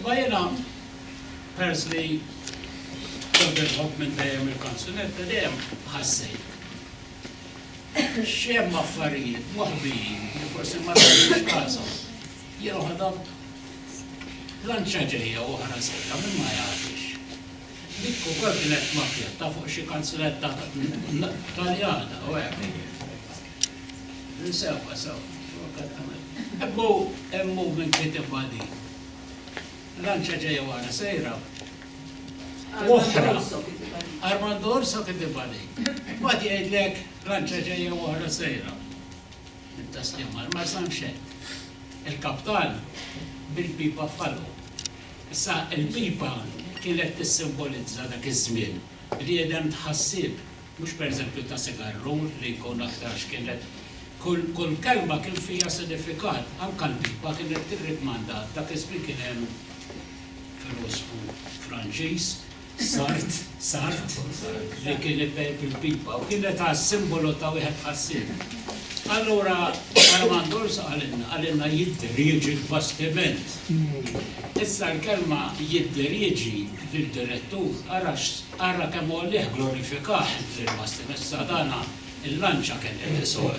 Imma jiena peress li kont nitħobb minn dejjem il-kanzunetta dejjem ħassejt xi hemm affarijiet moħbijin li forsi ma tagħtix kasom. Jiena waħda blanċa ġejja u oħra sejra min ma jagħtix. Dik ukoll kienet makkjetta fuq xi kanzunetta Taljana u hekk. Insewwa sew, korrettament. Hekk hu, hemm movement li tibgħa din. Lanċa ġejja wara sejra. U oħra. Armando Orso kien tibgħa din. Mbagħad jgħidlek lanċa ġejja u oħra sejra. Mit-tasliem għall-Marsa mxet. Il-kaptan bil-pipa f'ħalqu. Issa, il-pipa kienet tissimbolizza dak iż-żmien, bniedem tħassib. Mhux pereżempju ta' sigarrur li jkun aktarx kienet kull kull kelma kien fiha sinifikat. Anke l-pipa kienet tirrikmanda dak iż-żmien kien hemm filosfu Franċiż, Sart, Sartre, li kien ibejb il-pipa u kienet għad simbolu ta' wieħed ħassib. Allura Armand Urso qalilna, qalilna jidher, jiġi l-bastiment. Issa l-kelma jidher, jiġi lid-direttur ara Ara kemm hu għalih glorifikat il-Gvern Muslim issa dana l-lanċa kemm qed isoqr.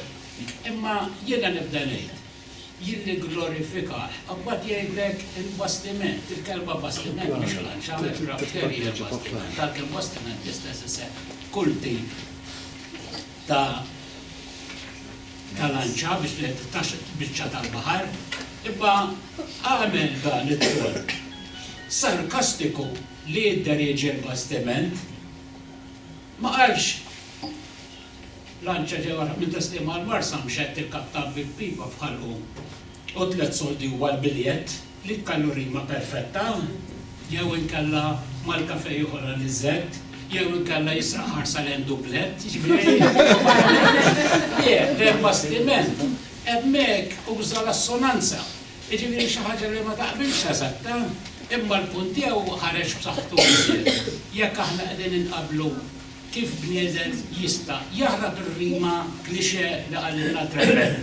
Imma jiena nibda ngħid, jien nigglorifika, imbagħad jgħidlek il-bastiment, il-kelma bastiment mhux lanċa, aircraft carrier bastiment, għalkemm bastiment l-istess isem f'kull tip ta' ta' lanċa biex li titgħax biċċa tal-baħar. Imma għamel dan it-tort sarkastiku li jidderieġi l-bastiment, ma qalx lanċa ġewwa l-ħabel ta' sliema għall-Marsa mxet tikkattah bi pipa f'ħalqu u tliet soldi huwa l-biljett li jkallu rima perfetta jew inkella mal-kafè jieħu l-aniżett jew inkella jisraq ħarsa lejn dublett, jiġifieri wara li jbiegħ l-bastiment hemmhekk uża l-assonanza. Jiġifieri xi ħaġa li ma taqbilx eżatta, imma l-punt tiegħu ħareġ b'saħħtu iżjed jekk aħna qegħdin inqabblu kif bniedem jista' jaħrab ir-rima cliché li qalilna Trevor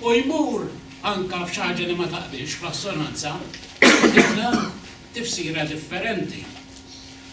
u jmur anke f'xi ħaġa li ma taqbilx fl-assonanza, u jtina tifsira differenti.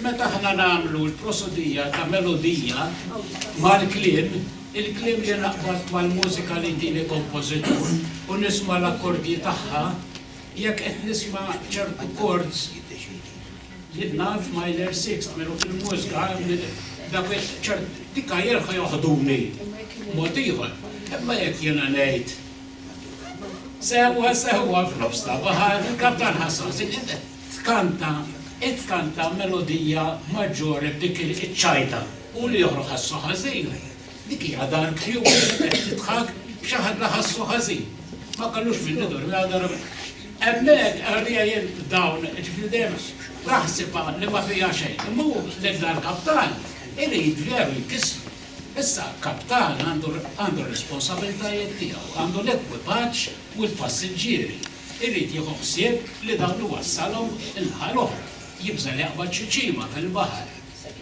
Meta aħna nagħmlu l-prosodija ta' melodija mal-kliem, il-kliem li naqbad mal-mużika li jtini kompożitur u nisma' l-akkordji tagħha, jekk qed nisma' ċertu chords, jien naf minor sixth, minn u fil-mużka dawk ċert, dik għajr joħduni mod ieħor. Imma jekk jiena ngħid, Sewwa, sewwa f'nofs ta' baħar, il-kaptan ħassas, Tkanta, Itkanta melodija maġġore b'dik iċ-ċajta, hu li joħrog ħassu ħażin. Dik hija dar kjut li qed tidħak b'xi ħadd li ħassu ħażin. Ma kellux min idormi għal darba. Hemmhekk għalija jien dawn, ġifieri dejjem naħsibha li ma fiha xejn. Imma hu lil dal-kaptan irid veru jkissru. Issa, kaptan għandu r-responsabbiltajiet tiegħu, għandu l-ekwipaġġ u l-passiġġieri. irid jieħu ħsieb li dawn iwassalhom il-ħal oħra, jibża' li jaqbad xi ċima fil-baħar,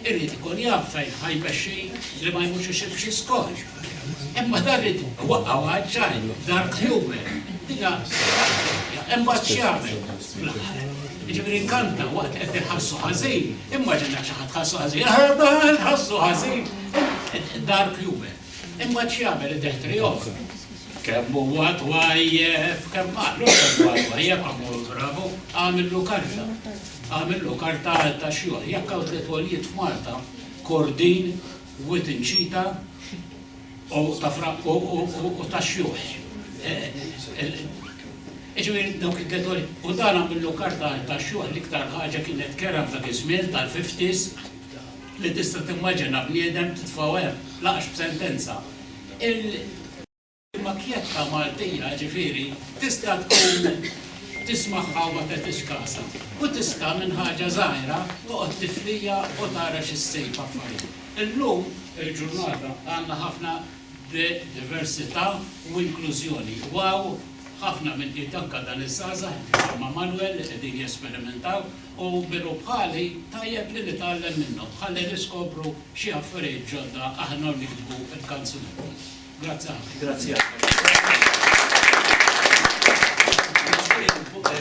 irid ikun jaf fejn ħa jmexxi li ma jmurx ixib xi skol. Imma dan irid iwaqqgħu għaġġajn, dark humor, din hija ħaġa Imbagħad x'jagħmel fl-aħħar? Jiġifieri nkanta waqt qed inħassu ħażin, immaġina xi ħadd ħassu ħażin, ħassu ħażin, dark humor. Imbagħad x'jagħmel id-deħtri joffri. Kemm huwa twajjeb, kemm qalu kemm huwa twajjeb għamlu bravu, għamillu karta. Għamillu karta għal ta' xogħol. Jekk hawn tliet għoljiet f'Malta, kordin, wit inċita u ta' fraq u ta' xjuħ. Iġviri dawk id-detoli, u dan għamillu karta ta' xogħol l-iktar ħaġa kienet kera ta' iż-żmien tal-50s li tista' timmaġina bniedem titfgħu hemm, lanqas b'sentenza. Il-makjetta Maltija, ġifieri, tista' tkun tismagħha u ma tagħtix kasha, u tista' minn ħaġa żgħira toqgħod tiflija u tara xi ssib f'affarijiet. Illum il-ġurnata għandna ħafna diversità u inklużjoni. Wow ħafna minn qiegħed anke dan iż-żgħażagħ bħalma Manuel li qegħdin jesperimentaw. u minu bħali tajjeb li nitgħallem minnhom ħalli niskopru xi affarijiet ġodda aħna u niktbu l-kanzunetti. Grazzi ħafna.